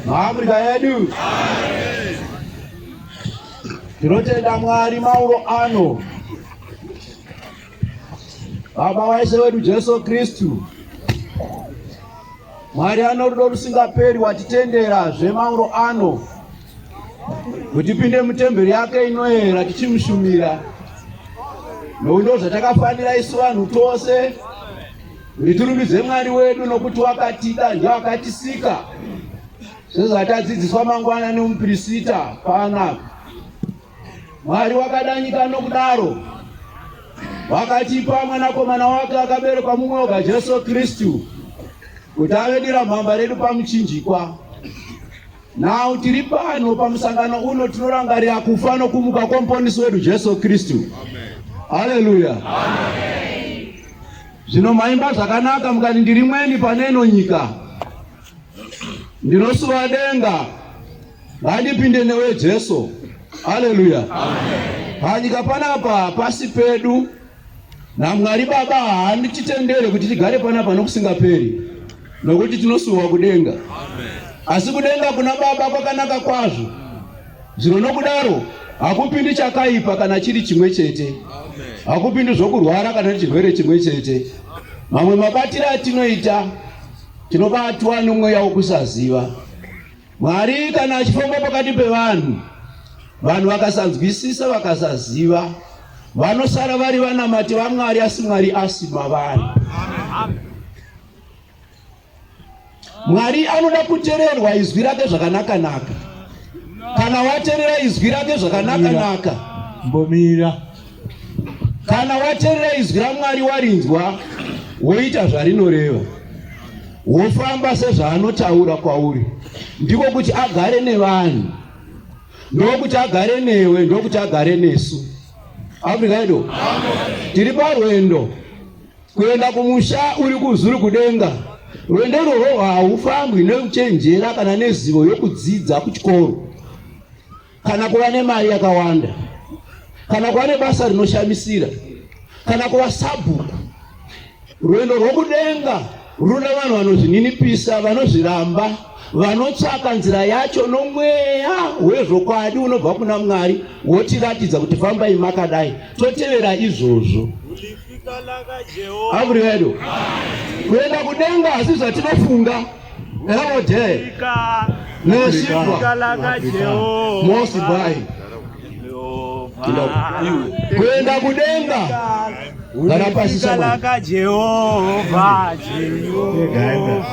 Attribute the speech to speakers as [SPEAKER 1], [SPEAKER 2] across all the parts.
[SPEAKER 1] Maafrika yedu tinotenda Mwari mauro ano Baba waishe wedu Jesu Kristu Mwari anorudo rusingaperi watitendera zvemauro ano kuti pinde mutemberi yake inoera tichimushumira nokuti ndo zvatakafanira isu vanhu tose kuti tirumbidze mwari wedu nokuti wakatida ndio akatisika sezvatadzidziswa mangwana nemupirisita paanaka mwari wakada nyika nokudaro wakatipa mwanakomana wake akaberekwa mumwe oga jesu kristu kuti avedira mhamba redu pamuchinjikwa Now tiri pano pamusangano uno tinorangarira kufa nokumuka kwomuponisi wedu Jesu Kristu. Haleluya. Zvino maimba zvakanaka mukati ndiri mweni pane ino nyika. Ndinosuva denga. Ngandipinde newe Jesu. Haleluya. Panyika panapa pasi pedu NaMwari Baba haandichitendere kuti tigare panapa nokusingaperi, nokuti tinosuwa kudenga. Asi kudenga kuna Baba kwakanaka kwazvo, zvino nokudaro hakupindi chakaipa kana chiri chimwe chete, hakupindi zvokurwara kana chirwere chimwe chete. Mamwe mabatiro atinoita tinobatwa nomweya wokusaziva, Mwari kana achifamba pakati pevanhu, vanhu vakasanzwisisa, vakasaziva, vanosara vari vanamati vaMwari, asi Mwari asi mavari. Mwari anoda kutererwa izwi rake zvakanaka-naka. Kana waterera izwi rake zvakanaka-naka, mbomira Kana waterera izwi raMwari warinzwa, woita zvarinoreva, wofamba sezvaanotaura kwauri, ndiko kuti agare nevanhu, ndokuti agare newe, ndokuti agare nesu. Afrika yedu tiri parwendo kuenda kumusha uri kuzuri kudenga. Rwendo irworwo haufambwi nekuchenjera kana nezivo yokudzidza kuchikoro. kana kuva nemari yakawanda kana kuva nebasa rinoshamisira kana kuva sabhuku rwendo rwokudenga runoda vanhu vanozvininipisa vanozviramba vanotsvaka nzira yacho nomweya wezvokwadi unobva kuna mwari wotiratidza kuti fambai makadai totevera izvozvo avurivedu kuenda kudenga asi zvatinofunga All day. Nashikwa. Mosi bai. Kuenda kudenga. Kana pasi sana.
[SPEAKER 2] Jehova, Jehova.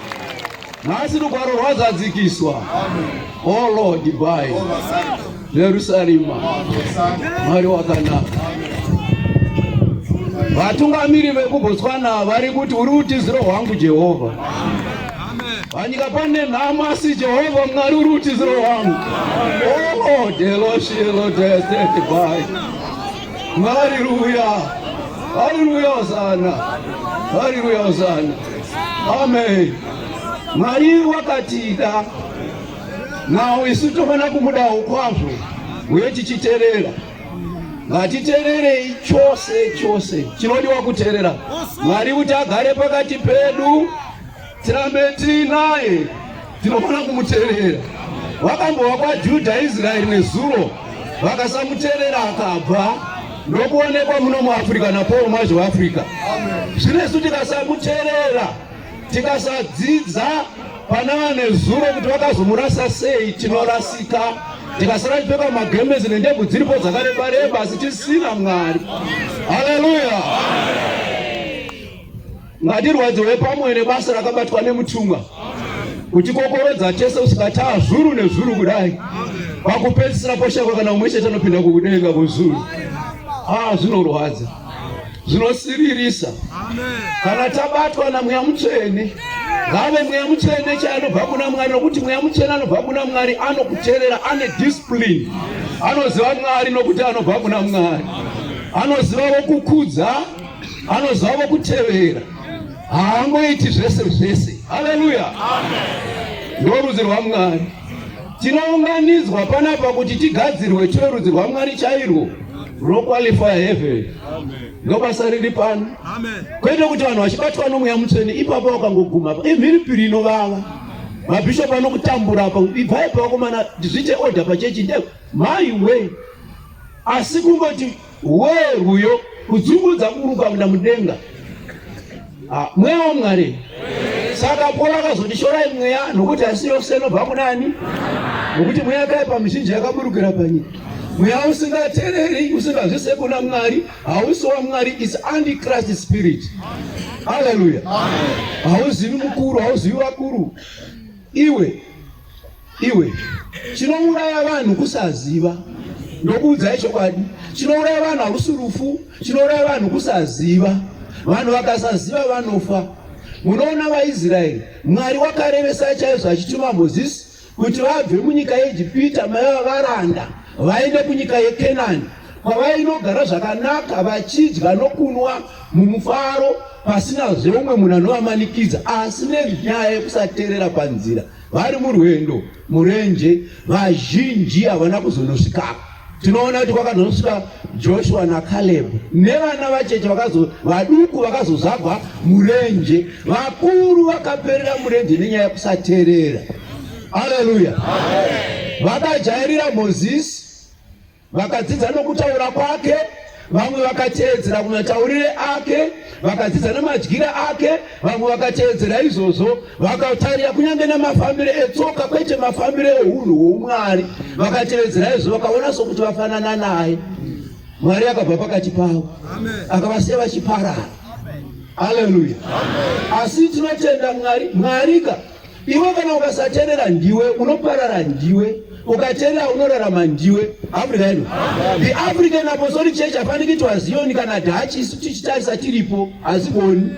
[SPEAKER 1] nhasi rugwaro rwazadzikiswa o oh lord by jerusarema mwari wakanaka vatungamiri vekubotswana vari kuti uri utiziro hwangu jehovha panyika pane nhamo asi jehovha mwari uri utiziro hwangu o oh lord eloshielodesetibai Haleluya. Haleluya hosana. Haleluya hosana. Amen. Mwari wakatida nawo isu tofanira kumudawo kwazvo uye tichiterera ngatitererei chose chose chinodiwa kuterera mwari kuti agare pakati pedu Tirambe tiinaye, tinofanira kumuterera. Vakambova kwaJudha Israeri nezuro, vakasamuterera akabva ndokuonekwa muno muAfrica naPaul Mwazhi weAfrica. Zvino isu tikasamuterera, tikasadzidza pana vanezuro kuti vakazomurasa sei, tinorasika tikasara tipfeka magemezi nendebvu dziripo dzakareba reba asi tisina mwari haleluya Ngatirwadziwe pamwe nebasa rakabatwa nemutumwa kutikokorodza tese kusvika taa zvuru nezvuru kudai pakupedzisira poshakwa kana umwe chete anopinda kukudenga kuzuru haa zvinorwadza zvinosiririsa kana tabatwa namweya mutsvene ngave mweya mutsvene chaanobva kuna mwari nokuti mweya mutsvene anobva kuna mwari anokuterera ane discipline anoziva mwari nokuti anobva kuna mwari anoziva wokukudza anozama kutevera haangoiti zvese zvese haleluya ndorudzi rwamwari tinounganidzwa panapa kuti tigadzirwe tive rudzi rwamwari chairwo roqualifya heaven ndobasa riri pano kwete kuti vanhu vachibatwa nomweya mutsvene ipapo vakangoguma imhiripiri inovava mabhishopu anokutambura apa ibvai pavakomana zvite order pachechi nde mai wee asi kungoti Wee rwuyo kudzungudza kuruka muna mudenga ah, mweya wamwari saka pora akazoti shorai mweya nokuti asi yose inobva kunani nokuti mweya yakaipa mizhinji yakaburukira panyika mweya usingatereri usingazvise kuna mwari hausi wamwari is antichrist spirit haleluya hauzivi mukuru hauzivi vakuru iwe Iwe chinouraya vanhu kusaziva ndokuudzai chokwadi chinouraya vanhu hakusi rufu chinouraya vanhu kusaziva vanhu vakasaziva vanofa munoona vaisraeri mwari wakarevesa chaizvo achituma mozisi kuti vabve munyika yeegipita maiva varanda vaende kunyika yekenani kwavainogara zvakanaka vachidya nokunwa mumufaro pasina zveumwe munhu anovamanikidza asi nenyaya yekusateerera panzira vari murwendo murenje vazhinji havana kuzonosvikako tinoona kuti kwakazonosvika joshua nakaleb nevana vacheche vaduku vakazozvagwa murenje vakuru vakaperera murenje nenyaya yekusateerera aleluya vakajairira mozisi Vakadzidza nokutaura kwake, vamwe vakateedzera kumataurire ake, vakadzidza nemadyire ake, vamwe vakateedzera izvozvo, vakatarira kunyange nemafambire etsoka, kwete mafambire eunhu hwoumwari, vakateedzera izvozvo, vakaona sokuti vafanana naye. Mwari akabva pakati pavo, akavasiya vachiparara. Haleluya! Asi tinotenda Mwari, Mwarika Iwe kana ukasaterera ndiwe unoparara ndiwe ukaterera unorarama ndiwe africa yedu the african apostolic church hafaniki kuti wazioni kana dhachi isu tichitarisa tiripo hazigoni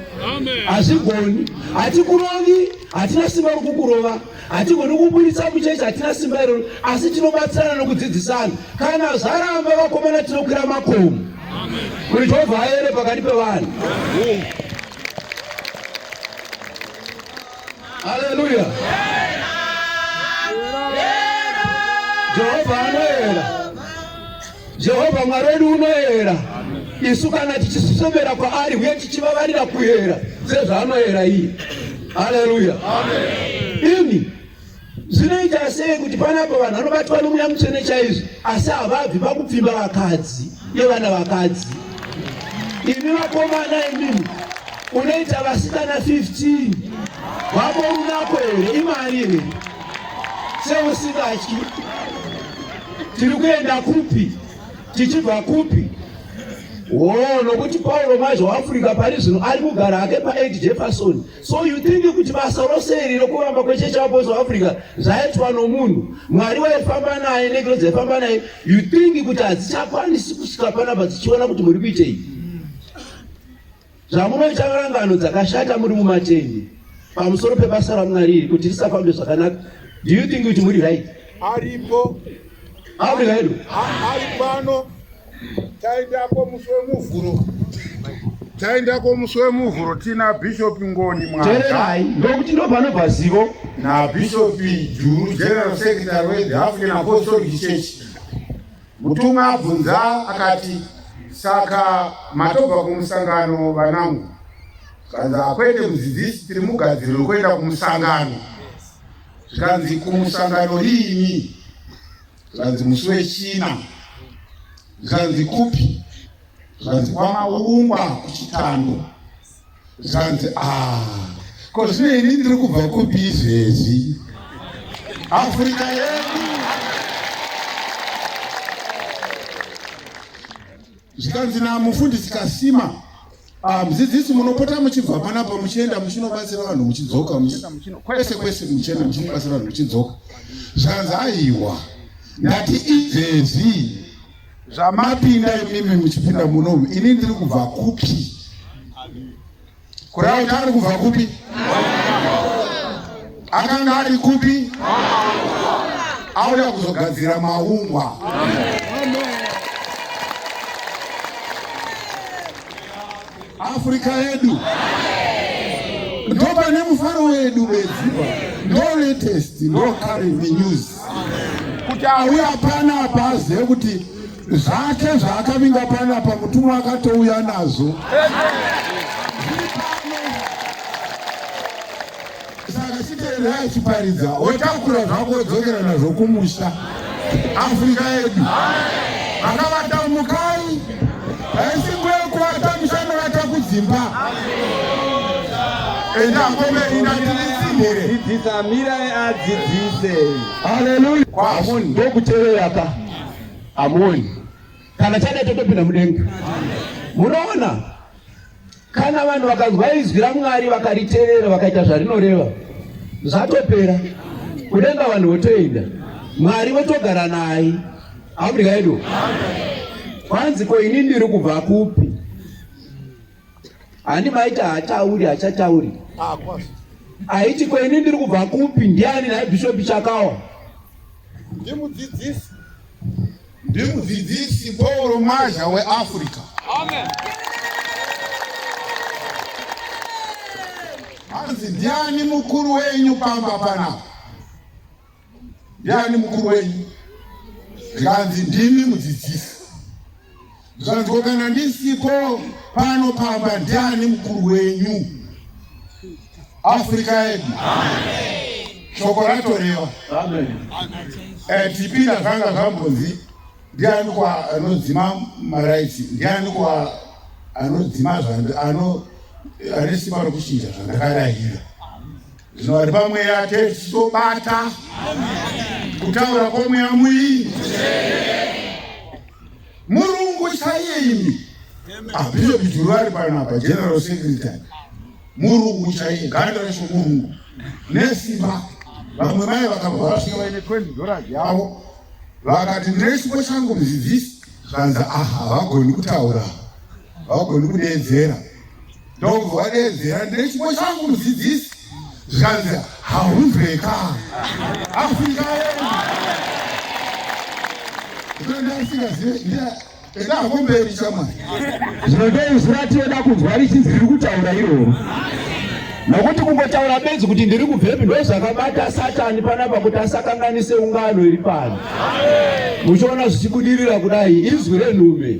[SPEAKER 1] hazigoni hatikurovi hatina simba rokukurova hatigoni kuburitsa muchechi hatina simba iroro asi tinobatsirana nokudzidzisana kana zvaramba vakomana tinokwira makomo kuti jehovha aere pakati pevanhu Haleluya. Jehova anoera. Jehova Mwari wedu unoera. Isu kana tichisosomera kwaari uye tichivavarira kuera sezvaanoera iye. Haleluya. Amen. Ini Zvinoita sei kuti panapo vanhu vanobatwa nomweya mutsvene chaizvo asi havabvi pakupfimba vakadzi nevana vakadzi? Imi vakomana imimi unoita vasikana 15 vako unako here imari here seusingatyi? Tiri kuenda kupi tichibva kupi? Wo nokuti Pauro mazvo Africa pari zvino ari kugara hake paEd Jefferson So you think kuti basa rose iri rokuvamba kwechechi apostle africa zvaitwa nomunhu mwari waifamba naye negiro dzaifamba naye you think kuti hadzichakwanisi kusvika panapa dzichiona kuti muri kuitei zvamunoita rangano dzakashata muri mumatende pamusoro pebasa ramwari iri kuti risafambe zvakanaka do you think kuti muri right aripo
[SPEAKER 3] africa
[SPEAKER 1] yedu ari pano
[SPEAKER 3] taendako musi wemuvhuro taendako musi wemuvhuro tina bishop ngoni mwatererai ndokuti
[SPEAKER 1] ndopanobva zivo nabishop
[SPEAKER 3] juru general secretary wethe african apostolic church mutumwa abvunza akati saka matobva kumusangano vanangu kanzi akwete mudzidzisi tiri mugadziriro kuenda kumusangano zvikanzi kumusangano riini zvanzi musi wechina zvanzi kupi zvanzi kwamaungwa kuchitando zvanzi ah, ko zvino ini ndiri kubva kupi izvezvi afrika yedu zvikanzi namufundisi kasima Ah, mudzidzisi munopota muchibva panapa muchienda muchinobatsira vanhu muchidzoka kwese kwese muchienda muchinobatsira vanhu muchidzoka zvanzi aiwa ndati izvezvi zvamapinda imimi muchipinda munomu ini ndiri kubva kupi kurauta ari kubva kupi Akanga ari kupi? Auya kuzogadzira maungwa. Afrika yedu ndo pane mufaro wedu bedzi, ndo latest, ndo current news kuti auya pana apa azive kuti zvake zvaakavinga pana apa mutumwa akatouya nazvo. Saka chiteererai chiparidza wotakura zvako wodzokera nazvo kumusha. Afrika yedu vakavata mukai haisi nguva yekuvata musha inovata kudzimba. Enda komberi ndatirisimire. Dzidzisa mira
[SPEAKER 2] adzidzise. Haleluya.
[SPEAKER 1] Kwamoni ndokuteerera ka. Amoni. Kana chada totopinda mudenga. Munoona? Kana vanhu vakanzwa izwi raMwari vakariteerera vakaita zvarinoreva, zvatopera. Kudenga vanhu votoenda, Mwari votogara naye. Afrika yedu kwanzi ko ini ndiri kubva kupi? Handi maita hatauri hachatauri aiti ko ini ndiri kubva kupi? Ndiani naye Bishop Chakawa ndimudzidzisi
[SPEAKER 3] Ndimudzidzisi Paul Mazha weAfrica. Amen. Hanzi ndiani mukuru wenyu pamba panapa? Ndiani mukuru wenyu? Nganzi ndimi mudzidzisi. Zvanzwa kana ndisipo pano pamba ndiani mukuru wenyu Africa yedu shoko ratorewa eh, tipinda zvanga zvambonzi ndiani kwa anodzima maraitsi ndiani kwa anodzima zvandi ano ane simba rokuchinja zvandakarayira Zvino vari pamweya atete tichitobata kutaura kwomweya muii murungu chaiye imi abhishopi ah, juru vari panapa general secretary murungu chaiye ganda resho murungu nesimba vamwe mai vakabva vasvika vaine 20 dollars yavo vakati ndine chipo changu muzivisi zvanzi aha havagoni kutaura havagoni kudeedzera Ndobva wadedzera ndine chipo changu mudzidzisi zvikanzi haunzweka asingaeasingazive enda hako mberi chamwari zvinodei
[SPEAKER 1] zviratioda kunzwa richinzi riri kutaura iroro nokuti kungotaura bedzi kuti ndiri kubvepi ndo zvakabata satani panapa kuti asakanganise ungano iri pano muchiona zvichibudirira kudai izwi renhume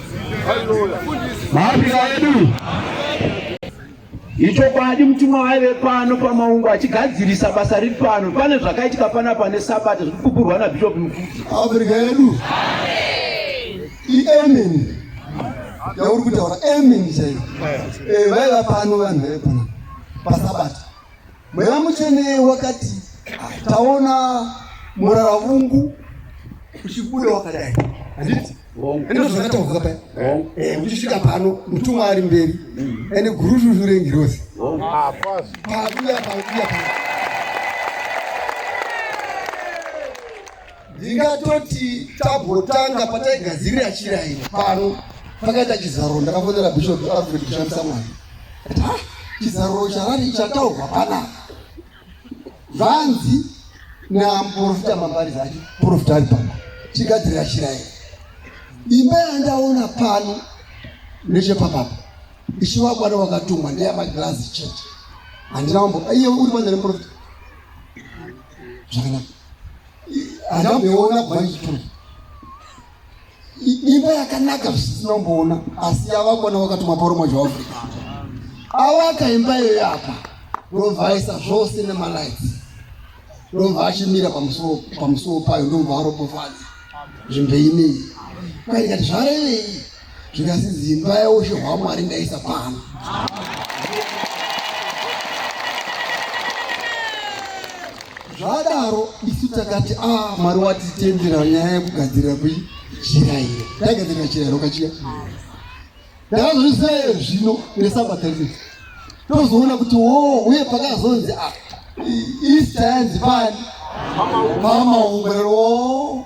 [SPEAKER 1] Maafrika edu ichokwadi mutumwa waive pano pamaungo achigadzirisa basa riri pano pane zvakaitika pana pane sabata zviri kupupurwa nabishop mukudzi afrika yedu
[SPEAKER 4] iemini yauri kutaura emini chaiyo eh, vaiva pano vanhu vaipona pasabata Mweya Mutsvene wakati taona murara vungu uchibuda wakadai handiti ende zvakataurwa paya eh, uchisvika pano mutumwa ari mberi mm. ende gurushushu rengirozi ah, pakuya pakuya pa ndingatoti tabotanga pataigadzirira chira ino pano pakaita chizaruro ndakafonera bishop alfred kushandisa mwari ati ha chizaruro charari chataurwa panapa vanzi namuprofita mambari zake profita ari pano tigadzirira chira ino imba yandaona pano nechepapapa ichivakwana wakatumwa ndeyamagirazi chete handina mambo iye uri mwana remuprofita zvakanaka handamboona bhaitwe imba yakanaka zvisizomboona asi yavakona vakatuma poromo zveafrica awaka imba iyo yapa ndobva aisa zvose nemalights ndobva achimira pamusuwo payo ndobva arobofadza zvimbeimei kwaikati zvarevei zvikasi zimba yaushe hwamwari ndaisa pano zvadaro isu takati a ah, mwari watitendera nyaya yekugadzirira kujira iyo taigadzirira chira iro kachiya ndakazozvisaye zvino nesabata rino tozoona kuti wo oh, uye pakazonzi ah, east yanzi pani mama ungwerero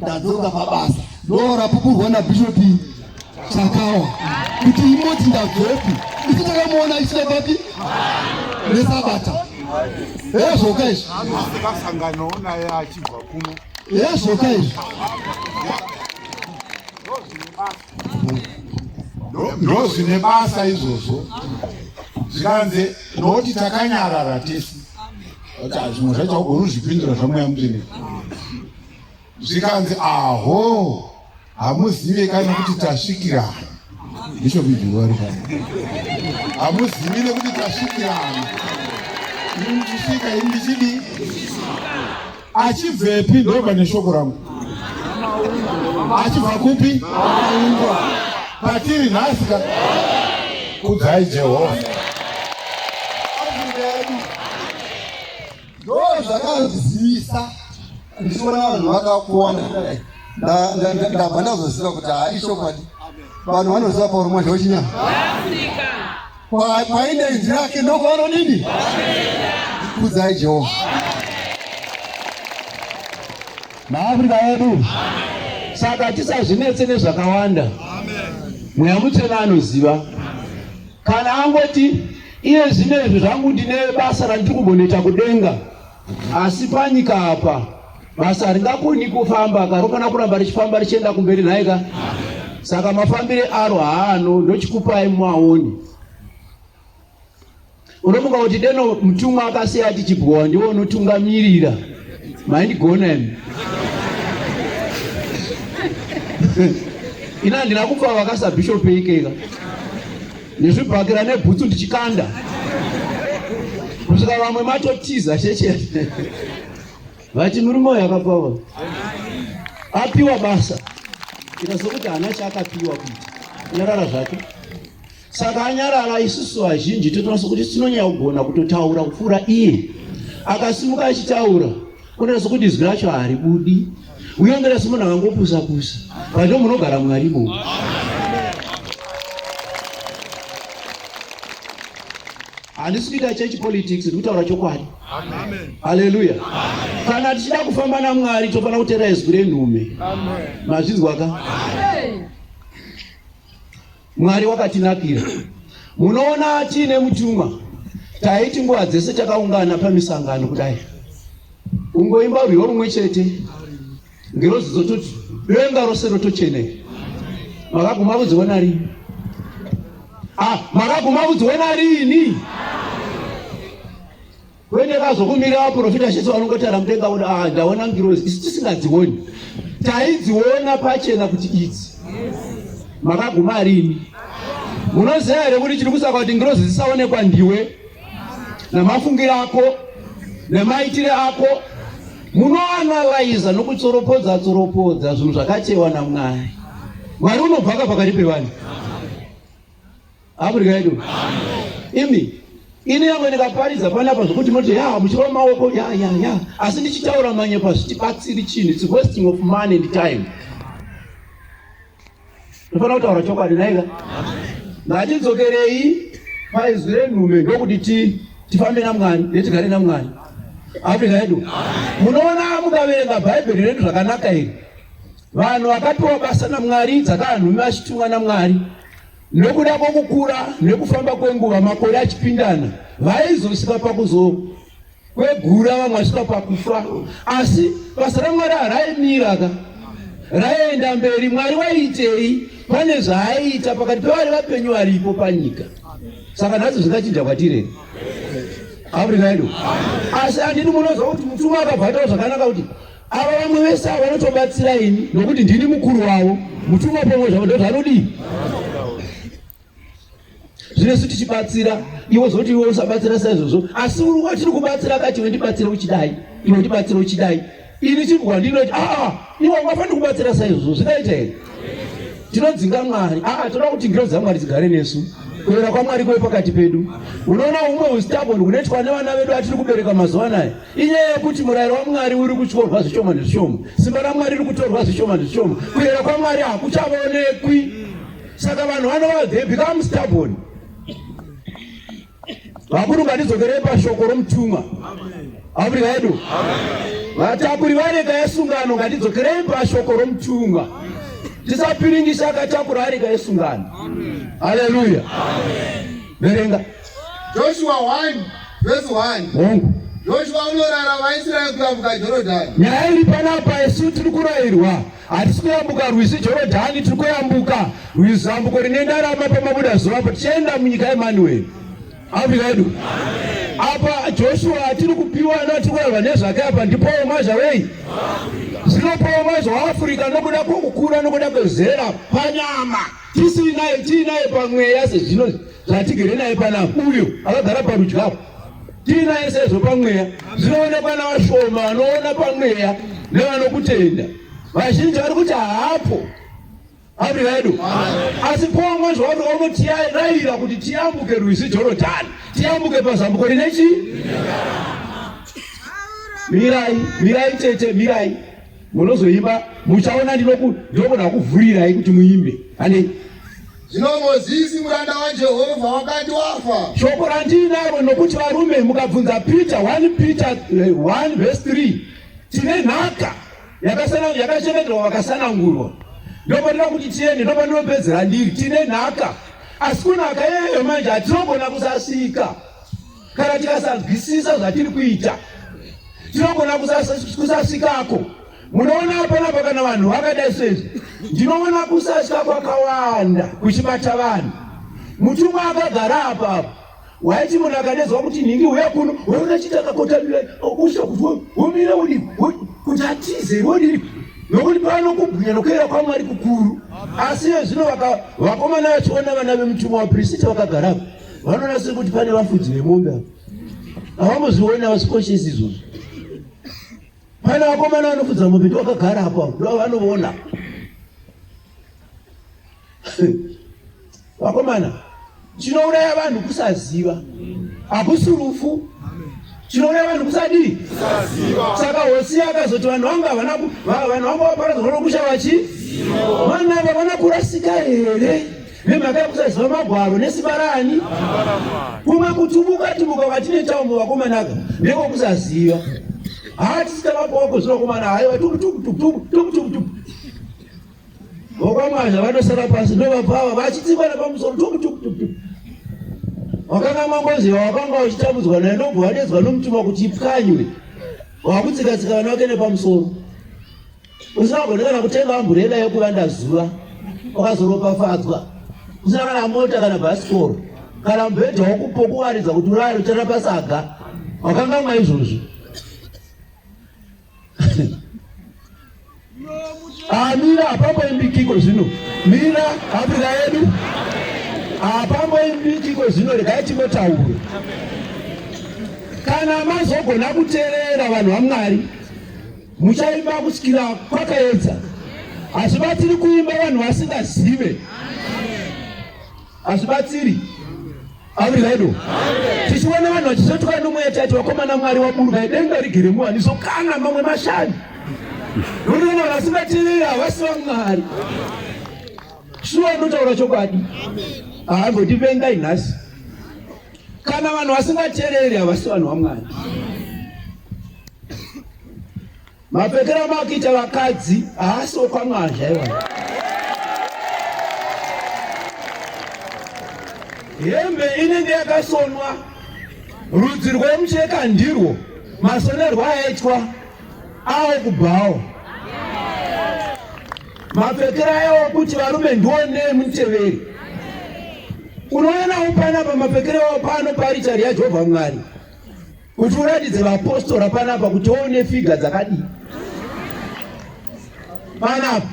[SPEAKER 4] ndadzoka pabasa ndorapupurwa nabishop chakawa kuti imoti ndabvepi isi takamuona aisina papi nesabata ezvoka izvi anosikasanganoo
[SPEAKER 3] naye achibva kuno ezvoka izvi ndozvine basa izvozvo zvikanzi nokuti takanyarara tese kuti hazvimwe zvacho ugoruzvipindura zvamweya muteneko zvikanzi aho hamuzive kana kuti tasvikirana ndicho bidhuwari ka hamuzivi nekuti tasvikirana ini ndichisvika ini ndichidi achibvepi ndobva neshoko rangu achibva kupi aungwa patiri nhasi ka kudzai jehovha
[SPEAKER 4] ndozvakanzivisa ndichiona vanhu vakakwana ndabva ndazoziva kuti haa ishokwadi vanhu vanoziva pauro mwazha wechinyama kwaine inzi rake ndokwanodini kudzai jehovha
[SPEAKER 1] maafrika yedu saka tisazvinetse nezvakawanda mweya mutsvene anoziva kana angoti Iye zvino izvi zvangu ndine basa randiri kumbonoita kudenga, asi panyika apa basa haringakoni kufamba ka rofanira kuramba richifamba richienda kumberi nhai ka saka mafambire aro haano ndochikupai muaoni unofunga kuti deno mutumwa akasiya ati chibhowa ndiwo unotungamirira maindigona imi ina handina kufa vakasabhishopi ikeka nezvibhakera nebhutsu ndichikanda kusvika vamwe matotiza chechete vati murume uyo akapawa apiwa basa ikazokuti hana chaakapiwa kuita nyarara zvake saka anyarara isusu vazhinji totonasa kuti tinonyaya kugona kutotaura kupfuura iye akasimuka achitaura Kuna sokuti izwi racho haribudi. Uye mbere somunhu akangopusa pusa. Pacho munogara Mwari bo. Handisi kuita church politics, ndiri kutaura chokwadi. Amen. Hallelujah. Amen. Kana tichida kufamba naMwari tofanira kutera izwi renhume. Amen. Mazvinzwa ka? Amen. Mwari wakatinakira. Munoona tiine mutumwa taiti nguva dzese takaungana pamisangano kudai ungoimba rwiyo rumwe chete ngirozi dzototi denga rose rotocheneka makaguma vudzi wena rini ah, makaguma vudzi wena rini Kwete kazokumira vaprofita zvese vanongotara mudenga voda ah, ndaona ngirozi isu tisingadzioni taidziona pachena kuti idzi makaguma rini munoziva here kuti chiri kusaka kuti ngirozi dzisaonekwa ndiwe namafungiro ako nemaitire ako munoanalaiza nokutsoropodza tsoropodza zvinhu zvakachewa namwari mwari unobvaka pakati pevanhu Africa yedu. Imi ini yamwe ndikaparidza panapa zvekuti moti ya muchirova maoko ya ya ya asi ndichitaura manyepo hazvitibatsiri chinhu its wasting of money and time ndofana kutaura chokwadi naika ngatidzokerei paizwi renhume ndokuti tifambe namwari netigare namwari afrika yedu munoona mukaverenga bhaibheri redu zvakanaka iri vanhu vakapiwa basa namwari dzakaanhume vachitumwa namwari Nokuda kwokukura nekufamba kwenguva, makore achipindana, vaizosvika pakuzokwegura vamwe vasvika pakufa, asi basa raMwari haraimira ka raienda mberi. Mwari waiitei? Pane zvaaiita pakati pevari vapenyu varipo panyika. Saka nhasi zvingachinja kwatire Afrika yedu, asi andini munozwa kuti mutumwa akabva ataura zvakanaka kuti Ava vamwe vese ava vanotobatsira ini nokuti ndini mukuru wavo. Mutumwa pomwe zvavo ndoti anodii? Zvino isu tichibatsira iwe zoti iwe usabatsira saizvozvo asi uri watiri kubatsira akati iwe ndibatsire uchidai iwe ndibatsire uchidai ini chibwa ndinoti aa ah, iwe ungafaniri kubatsira saizvozvo zvinoita here tinodzinga mwari aa ah, toda kuti ngiro dzamwari dzigare nesu kuera kwamwari kwe pakati pedu unoona umwe ustabon kunoitwa nevana vedu atiri kubereka mazuva anaya Inyaya yekuti murayiro waMwari uri kutyorwa zvishoma nezvishoma, simba raMwari riri kutorwa zvishoma nezvishoma, kuyera kwaMwari hakuchavaonekwi. Saka vanhu vanova they become stubborn. Vakuru ngatidzokerei pashoko romutumwa. Abri vedu. Vatakuri vareka yesungano ngatidzokerei pashoko romutumwa. Tisapiringisha akatakura areka yesungano. Haleluya. Verenga.
[SPEAKER 2] Joshua 1 verse 1. Hongu. Joshua
[SPEAKER 1] unorara
[SPEAKER 2] vaIsraeri kuyambuka Jorodhani. Nyaya iri panapa
[SPEAKER 1] isu tiri kurairwa hatisi kuyambuka rwizi Jorodhani tiri kuyambuka rwizi zambuko rine ndarama pamabuda zuva apo tichienda munyika yeManueri. Afrika yedu. Apa Joshua atiri kupiwa anoti kurarwa nezvake apa ndipo mazha wei? Zinopowa mazha waAfrica nokuda kwokukura nokuda kwezera panyama. tisinaye tiinaye pamweya sezvino zvatigere naye panapa uyo akagara parudyi apo tiinaye sezvo pamweya zvinoonekwa navashoma vanoona pamweya nevanokutenda vazhinji vari kuti haapo amri vedu asi pomwe zvauri onotirayira kuti tiyambuke rwizi jorodhani tiyambuke pazambuko rine chii mirai mirai tete mirai Munozoimba muchaona ndinokuda kuvhurirai kuti muimbe. Handei. Zvino
[SPEAKER 2] Mozisi muranda waJehovha wakati wafa. Shoko randiinaro
[SPEAKER 1] nokuti varume mukabvunza Peter 1 Peter 1 eh, verse 3 tine nhaka yakachengeterwa vakasanangurwa ndopanira kuti tiende ndopanopedzera ndiri tine nhaka asi kunaka iyeyo manje hatinogona kusasika Kana tikasanzwisisa zvatiri kuita tinogona kusasvikako. Munoona hapana pakana vanhu vakadai sezvi, ndinoona kusatya kwakawanda kuchibata vanhu. Mutumwa akagara apa apa waiti munhu akanezwa kuti nhingi uya kuno waona chiti akakotamira okusha kuti womire udi kuti atize wodiri nokuti pano kubwinya nokuera kwamwari kukuru asi iye zvino vakomana vachiona vana vemutumwa wapirisita vakagara apa vanoona sekuti pane vafudzi vemombe avo havamboziona vasikoshesi izvozvo pana vakomana vanofudza mombe ndi vakagara apo avo ndo vanoona vakomana chinouraya vanhu kusaziva hakusi rufu chinouraya vanhu kusadii saka hosi akazoti vanhu vangu havana vanhu vangu vaparadzwa nokusha vachi vanhu ava vana kurasika here Nemhaka yokusaziva magwaro nesimba raani? Kumwe kutubuka tubuka kwatinoita umwe vakomanaka nekokusaziva. Haa tisita vapoko zvinokomana haiwa tukutukutukutukutukutuku. Vokwamwazha vanosara pasi ndovapava vachitsikwa nepamusoro tukutukutukutuku. Wakanga mwangoziva wakanga uchitambudzwa naye ndobva wadedzwa nomutima kuti ipwanywe. Wakutsikatsika vana vake nepamusoro. usingagone kana kutenga amburera yekuvanda zuva wakazoropafadzwa usina kana mota kana bhasikoro kana mubhedha wokupokuwaridza kuti urare uchara pasaga wakangamwa izvozvi amira ah, hapamboimbikiko zvino mira afrika yedu hapamboimbikiko ah, zvino regai timotaure kana mazogona kuterera vanhu vamwari Muchaimba kusvikira kwakaedza, hazvibatsiri kuimba vanhu vasingazive, hazvibatsiri aviraido tichiona vanhu vachizotuka nomweya tati vakomana mwari waburuka idenga rigere muwani zokana mamwe mashani unoona vasingatirira havasi vamwari shuwa anotaura chokwadi haambotivengai nhasi Kana vanhu vasingateereri havasi vanhu vaMwari. Mapfekero amakuita vakadzi haasi okwaMwari zvaiwa. Hembe inenge yakasonwa rudzi rwemucheka ndirwo masonerwo aitwa awo kubhawo. Mapfekero ayewo kuti varume ndiwo nei muteveri. Unoonawo panapa mapfekero awo pano paarichari yaJehovha Mwari kuti uratidze vapostora panapa kuti woune figa dzakadii panapa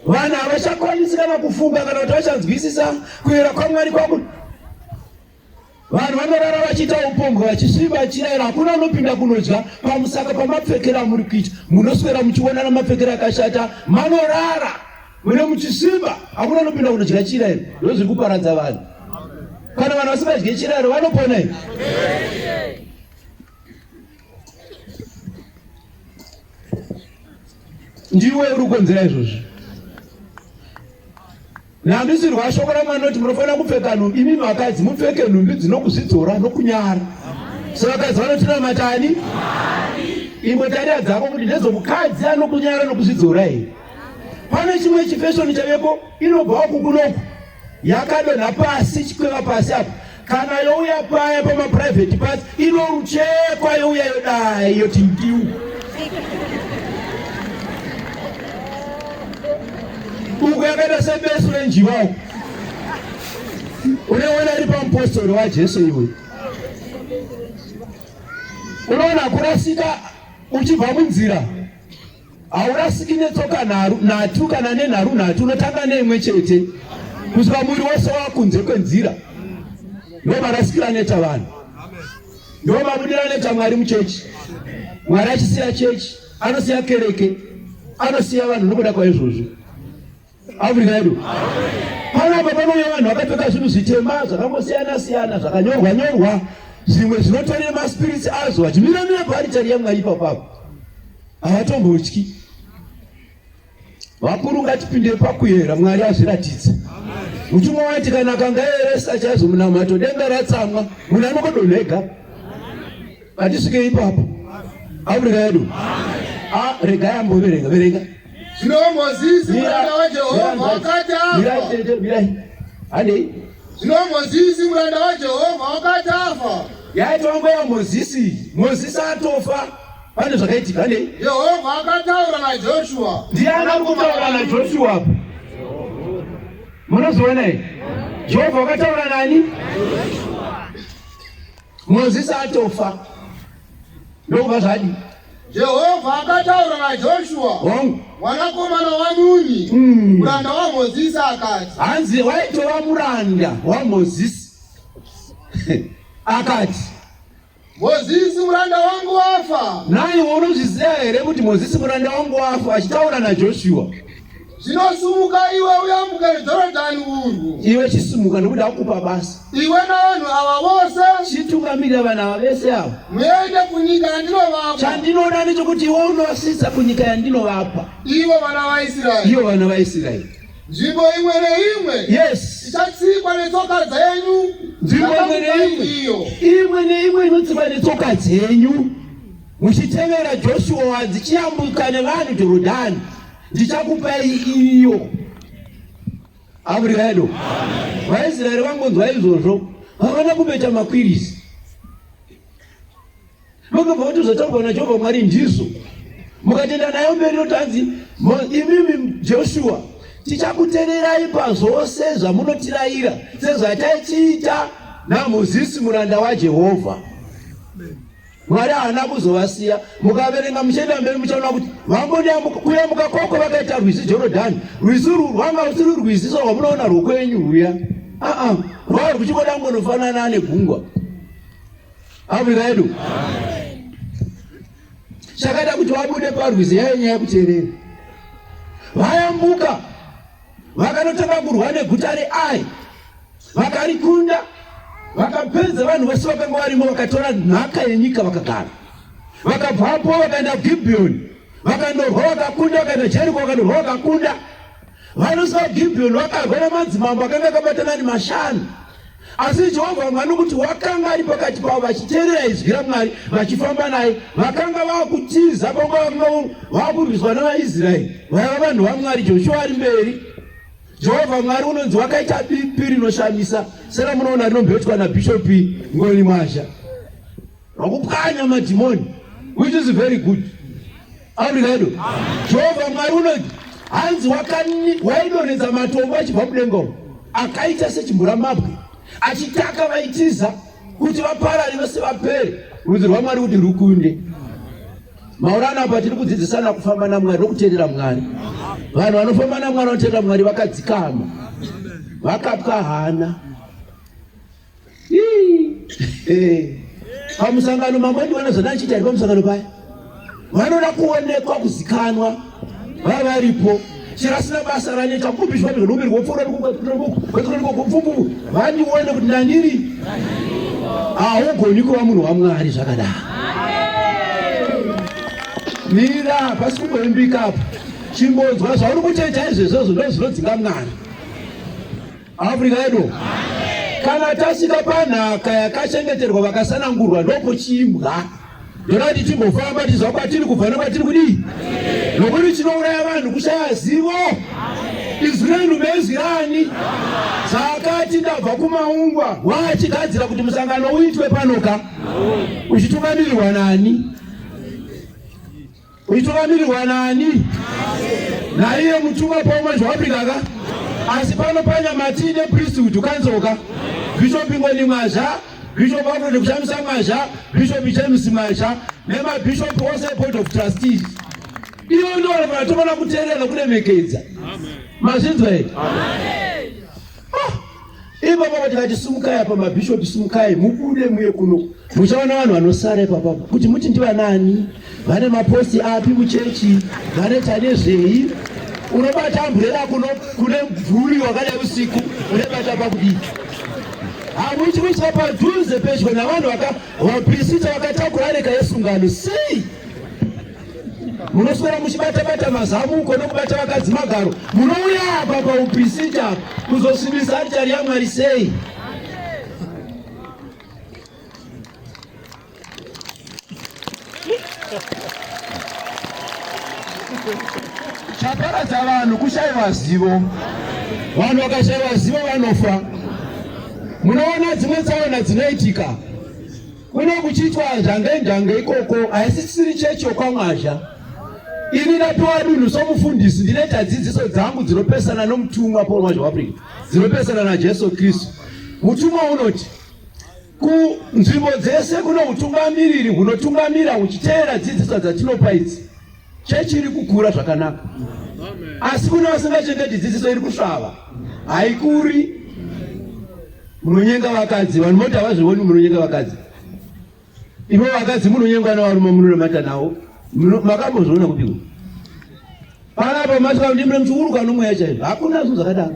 [SPEAKER 1] vanhu havachakwanisi kana kufunga kana kuti vachanzwisisa kuyera kwamwari kwakuti Vanhu vanorara vachiita upombwe vachisviba vachirayira, hakuna unopinda kunodya pamusaka pamapfekero amuri kuita. Munoswera muchionana mapfekero akashata, manorara mune muchisviba, hakuna unopinda kunodya chirayiro. Ndozviri kuparadza vanhu. Kana vanhu vasingadye chirayiro vanopona here? Ndiwe uri kukonzera izvozvi. Nandisi rwashoko ramwari noti munofanira kupfeka nhumbi imi vakadzi mupfeke nhumbi dzinokuzvidzora nokunyara so vakadzi vanotinamatani imwe tarira dzako kuti ndezomukadzi anokunyara nokuzvidzora here pane chimwe chifeshoni chaveko inobvawo kukunoku yakadonha pasi chikweva pasi apo kana youya paya pamaprivate pas inoruchekwa youya yodai yoti ndiu uku yakaita sebesu renjiva uku uneona iri pamupostori wajesu iwe unoona kurasika uchibva munzira haurasiki netsoka nhatu kana nenharu nhatu unotanga neimwe chete kusvika muviri wose wakunze kwenzira ndo marasikira aneta vanhu ndo mabudira aneta mwari muchechi mwari achisiya chechi anosiya kereke anosiya vanhu nokuda kwaizvozvo Africa yedu panapa panouya vanhu vakapfeka zvinhu zvitema zvakangosiyana siyana zvakanyorwa nyorwa zvimwe zvinotore maspiritsi azvo vachimira mira paaritari yamwari ipapapo havatombotyi vakuru ngatipinde pakuyera mwari azviratidze mutumwa wati kana kangayeresa chaizvo munamato denga ratsamwa munhu anokodonhega Vatisvike ipapo. Abude kaidu. Ah, rega ambo verenga, verenga. Zvinombo
[SPEAKER 2] zizi mwana wa Jehovah wakati afa. Mirai tete, mirai. Handei.
[SPEAKER 1] Zvinombo zizi
[SPEAKER 2] mwana wa Jehovah wakati afa. Yaitwa nguva ya
[SPEAKER 1] Mozisi. Mozisi atofa. Pane zvakaitika nei? Jehovha
[SPEAKER 2] akataura naJoshua. Ndiani ari kutaura
[SPEAKER 1] naJoshua apo? Munozoona here? Jehovha akataura nani? Mozisi atofa ndokubva zvadi Jehovha
[SPEAKER 2] akataura naJoshua hongu mwanakomana waNuni Mm. muranda waMozisi akati hanzi waitova
[SPEAKER 1] muranda wamozisi akati Mozisi
[SPEAKER 2] muranda wangu wafa naiwe unozviziva
[SPEAKER 1] here kuti mozisi muranda wangu wafa achitaura najoshua Zvino
[SPEAKER 2] sumuka iwe uyambuke Jorodhani urwu. Iwe chisumuka nokuti
[SPEAKER 1] akupa basa. Iwe navanhu
[SPEAKER 2] ava vose. Chitungamirira vanhu ava
[SPEAKER 1] vese ava. Muende kunyika
[SPEAKER 2] yandinovapa. Chandinoda ndechokuti
[SPEAKER 1] iwe unovasvitsa kunyika yandinovapa. Ivo vana
[SPEAKER 2] vaIsraeri. Ivo vana vaIsraeri.
[SPEAKER 1] Nzvimbo imwe
[SPEAKER 2] neimwe. Yes. Ichatsikwa
[SPEAKER 1] netsoka
[SPEAKER 2] dzenyu. Nzvimbo imwe
[SPEAKER 1] neimwe. Imwe neimwe inotsikwa netsoka dzenyu. Muchitevera Joshua dzichiyambuka nevanhu Jorodhani. ndichakupai iyo avuriaedo vaisraeri vangonzwa izvozvo havana kumeta makwirisi vakabva vatozotaurwa najehovha mwari ndizo mukatenda nayo mberi notanzi imimi joshua tichakutererai pazvose zvamunotirayira sezvataichiita namozisi muranda wajehovha Mwari haana kuzovasiya. Mukaverenga muchienda mberi muchaona kuti vambonyambuka kuyambuka kwako vakaita rwizi Jorodhani. Rwizi urwu rwanga rusiri rwizi so rwamunoona rwokwenyu rwuya. Aa, rwaiva rwuchingoda kungonofanana negungwa. Afrika yedu. Chakaita kuti vabude parwizi yaive nyaya yekuterera. Vayambuka vakanotanga kurwa neguta reAi. Vakarikunda, vakapedza vanhu vose vakanga varimo, vakatora nhaka yenyika vakagara. Vakabvapo vakaenda Gibhiyoni, vakandorwa vakakunda, vakaenda Jeriko vakandorwa vakakunda. Vanhu vaGibhiyoni vakarwa namadzimambo akanga akabatana ari mashanu. Asi Jehovha Mwari nokuti wakanga ari pakati pavo, vachiteerera izwi raMwari, vachifamba naye, vakanga vava kutiza panguva vakanga vava kurwiswa navaIsraeri, vaiva vanhu vaMwari, Joshua ari mberi Jehovha Mwari unonzi wakaita bipi rinoshamisa seramunoona rinombetwa nabhishopi Ngoni Mwazha wakupwanya madhimoni which is very good aurikaido Jehovha Mwari unonzi hanzi waidonhedza matombo achibva kudenga uko akaita sechimvura mabwe achitaka vaitiza kuti vaparari vese vapere rudzi rwamwari kuti rukunde Maurana apa tiri kudzidzisana kufamba naMwari nokuteerera Mwari. Vanhu vanofamba naMwari vanoteerera Mwari vakadzikama, vakapwa hana. Pamusangano mamwe ndiwana zvandaichiita ari pamusangano paya vanoda kuonekwa kuzikanwa vavaripo chero asina basa raneta kupi zvati zvodomiri wopfuura ndikokupfupu vandione kuti ndandiri haugoni kuva munhu wamwari zvakadaro mira pasi kumboimbika apa chimbonzwa zvauri kuteita izvezvozvo ndozvinodzinga mwana Africa yedu kana tasvika panhaka yakachengeterwa vakasanangurwa ndopochimbwa ndorati timbofamba tizva kwatiri kubva nokwatiri kudii nokuti chinouraya vanhu kushaya zivo izwi renhu mezwi rani zvakati ndabva kumaungwa waachigadzira kuti musangano uitwe panoka uchitungamirirwa nani Uchitungamirirwa nani? Naiye mutumwa pomwe zvawapinda ka? Asi pano panyamati ne priesthood ukanzoka. Bishop Ngoni Mwazha, Bishop Alfred Kushamisa Mwazha, Bishop James Mwazha nemabishop ose board of trustees. Iyo ndoro vanatomana kuteerera kuremekedza. Mazvinzwa here? Amen. Ipapa vati vati simukai apa mabhishopi simukai mubude muye kuno muchaona vanhu vanosara ipapa kuti muti ndivanani vane maposti api muchechi vanoita nezvei unobata amburera kuno kune mvuri wakadai usiku unebata pakudii hamuiti kuitira padhuze pedyo navanhu vaka vaprisita vakatakura areka yesungano sei munoswera muchibatabata mazamuko nokubata vakadzi magaro munouya apa paupisita kuzosvibisa aritari yamwari sei chaparadza vanhu kushaiwa zivo vanhu vakashaiwa zivo vanofa munoona dzimwe tsaona dzinoitika Kuno kuchiitwa njange njange ikoko haisisiri chechi yokwamwazha. Ini ndapiwa dunhu somufundisi ndinoita dzidziso dzangu dzinopesana nomutumwa Paul Mwazha Waprika dzinopesana naJesu Kristu. Mutumwa unoti kunzvimbo dzese kuno utungamiriri hunotungamira huchiteera dzidziso dzatinopa idzi. Chechi iri kukura zvakanaka, asi kune vasingachengeti dzidziso iri kusvava, haikuri. Munonyenga vakadzi, vanhu moti havazvioni munonyenga vakadzi. Ivo vakadzi munonyengwa navarume munonamata navo, makambozviona kupiko? Panapo mati vanhu ndimune muchiuruka nomweya chaizvo, hakuna zvinhu zvakadaro.